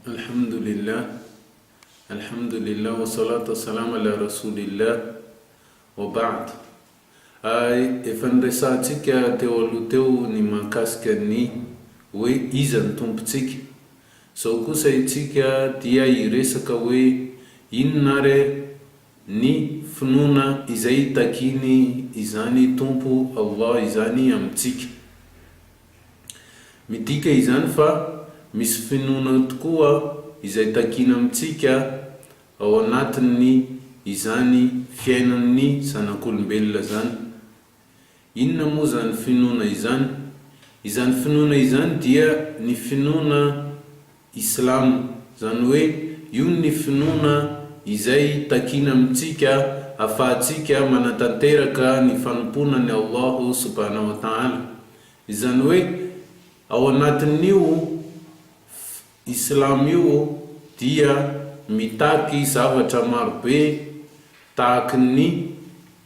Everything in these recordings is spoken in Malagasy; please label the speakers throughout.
Speaker 1: Alhamdoulilah Alhamdoulilah wa salat wa salam ala rasoulillah wa ba'd Efa niresahantsika teo aloha teo ny mahakasika ny hoe iza ny Tompontsika. Izao kosa itsika dia hiresaka hoe inona ary ny finoana izay itakiany izany Tompo Allah izany amintsika. Midika izany fa misy finoana tokoa izay takiana amintsika ao anatin'ny izany fiainan'ny zanak'olombelona izany. Inona moa izany finoana izany? Izany finoana izany dia ny finoana Islam, izany hoe io ny finoana izay takina amintsika afahantsika manatanteraka ny fanompoana an'i Allah subhanahu wa ta'ala, izany hoe ao anatin'io fy Islam io dia mitaky zavatra marobe tahaky ny.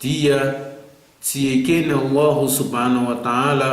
Speaker 1: Dia tsy ekena ho aho Subhana wa Ta'ala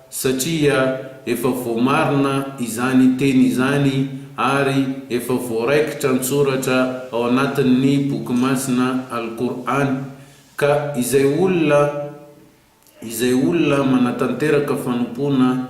Speaker 1: satria efa voamarina izany teny izany ary efa voaraikitra an-tsoratra ao anatin'ny Boky Masina Al-Qur'an, ka izay olona izay olona manatanteraka fanompoana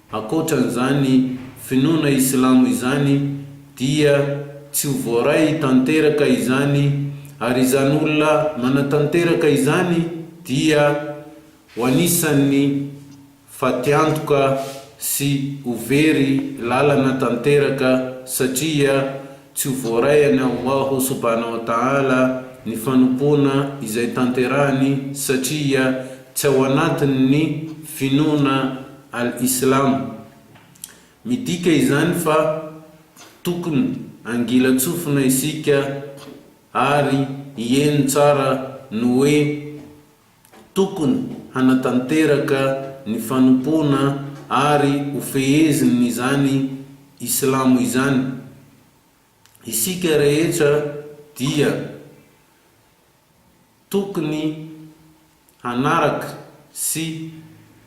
Speaker 1: Ankoatran'izany finoana islamo izany dia tsy ho voaray tanteraka izany ary izany olona manatanteraka izany dia ho anisan'ny fatiantoka sy ho very lalana tanteraka satria Tsy ho voaray an'i Allahu subhana wa ta'ala ny fanompoana izay tanterahiny satria tsy ao anatin'ny finoana Al-Islam. Midika izany fa tokony hangilan-tsofina isika ary hieno tsara ny hoe Tokony hanatanteraka ny fanompoana ary ho fehezin' izany Islamo izany isika rehetra dia tokony hanaraka sy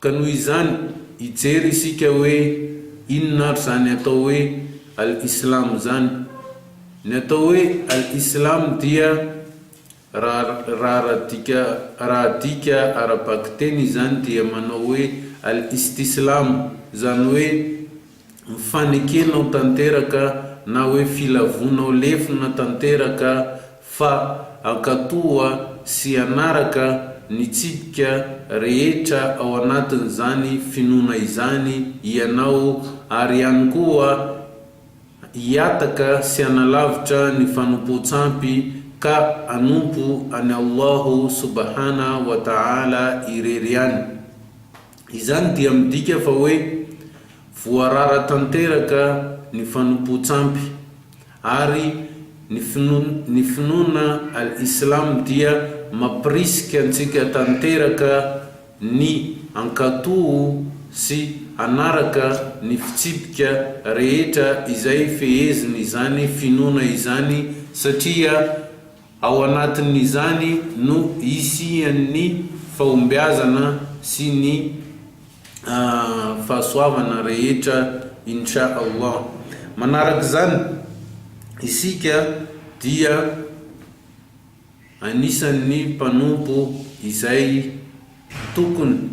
Speaker 1: Ka noho izany, hijery isika hoe inona ary izany atao hoe Al-Islam izany. Ny atao hoe Al-Islam dia, raha raha adika ara-bakiteny izany dia manao hoe Al-Istislam, izany hoe, ny fanekenao tanteraka na hoe filavonao lefona tanteraka fa ankatoa sy hanaraka ny tsipika rehetra ao anatin'izany finoana izany hianao ary ihany koa hiataka sy hanalavitra ny fanompoan-tsampy ka hanompo an'i Allahu subahana wa ta'ala irery ihany. Izany dia midika fa hoe voarara tanteraka ny fanompoan-tsampy, ary ny finoana ny finoana al-Islam dia mampirisika antsika tanteraka ny hankatò sy hanaraka ny fitsipika rehetra izay fehezin' izany finoana izany, satria Ao anatin'izany no hisian'ny fahombiazana sy ny fahasoavana rehetra Insha Allah. Manarak'izany, isika dia anisan'ny mpanompo izay tokony.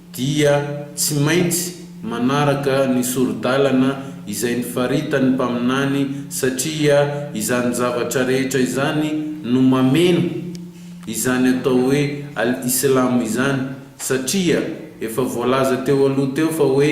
Speaker 1: dia tsy maintsy manaraka ny sori-dalana izay nifaritan'ny mpaminany satria izany zavatra rehetra izany no mameno izany atao hoe Al-Islam izany satria efa voalaza teo aloha teo fa hoe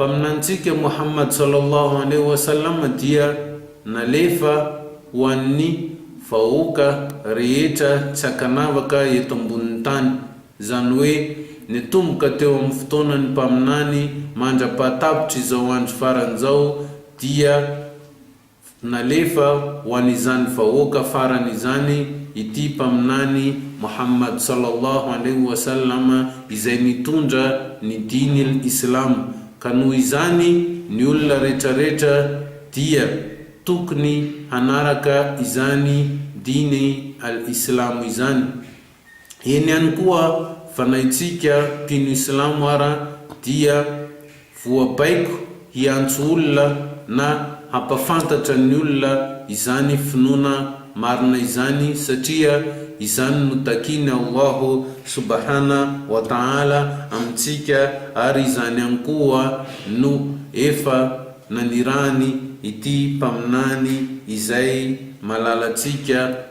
Speaker 1: Mpaminanintsika Mohammad sallallahu alaihi wa sallam dia nalefa ho an'ny vahoaka rehetra tsy ankanavaka eto ambonin'ny tany, izany hoe nitomboka teo amin'ny fotoanan'ny mpaminany mandra-pahatapitry izao andro farany izao dia Nalefa ho an'izany vahoaka farany izany ity Mpaminany Mohamad sallallahu alaihi wa sallam izay nitondra ny Dinil Islam, ka noho izany ny olona retraretra dia tokony hanaraka izany Diny al-Islamo izany. Eny ihany koa fanahintsika mpino islamo ara dia voabaiko hiantso olona na hampafantatra ny olona izany finoana marina izany satria izany no takiany Allahu subahana wa taala amintsika ary izany ihany koa no efa nanirahany ity mpaminany izay malalantsika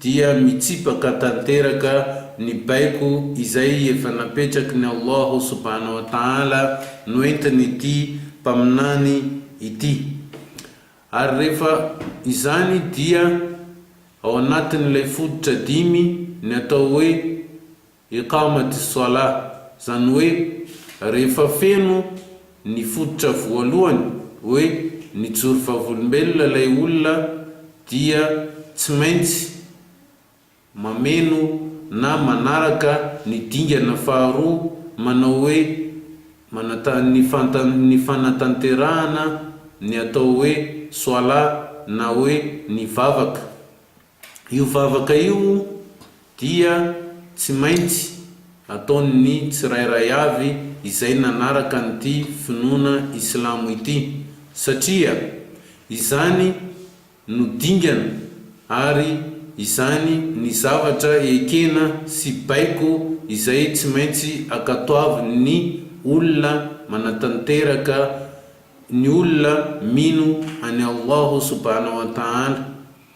Speaker 1: dia mitsipaka tanteraka ny baiko izay efa napetraky ny Allah subhanahu wa ta'ala noentin'ity Mpaminany ity, ary rehefa izany dia ao anatin'ilay fototra dimy ny atao hoe Iqamati s-salah, izany hoe rehefa feno ny fototra voalohany hoe nijoro vavolombelona ilay olona dia tsy maintsy mameno na manaraka ny dingana faharoa manao hoe manatany ny fanatanterahana ny atao hoe salah na hoe ny vavaka Io vavaka io dia tsy maintsy ataon'ny tsirairay avy izay nanaraka an'ity finoana islamo ity, satria izany no dingana ary izany ny zavatra ekena sy baiko izay tsy maintsy akatoavin'ny olona manatanteraka ny olona mino an'i Allahu subhana wa ta'ala.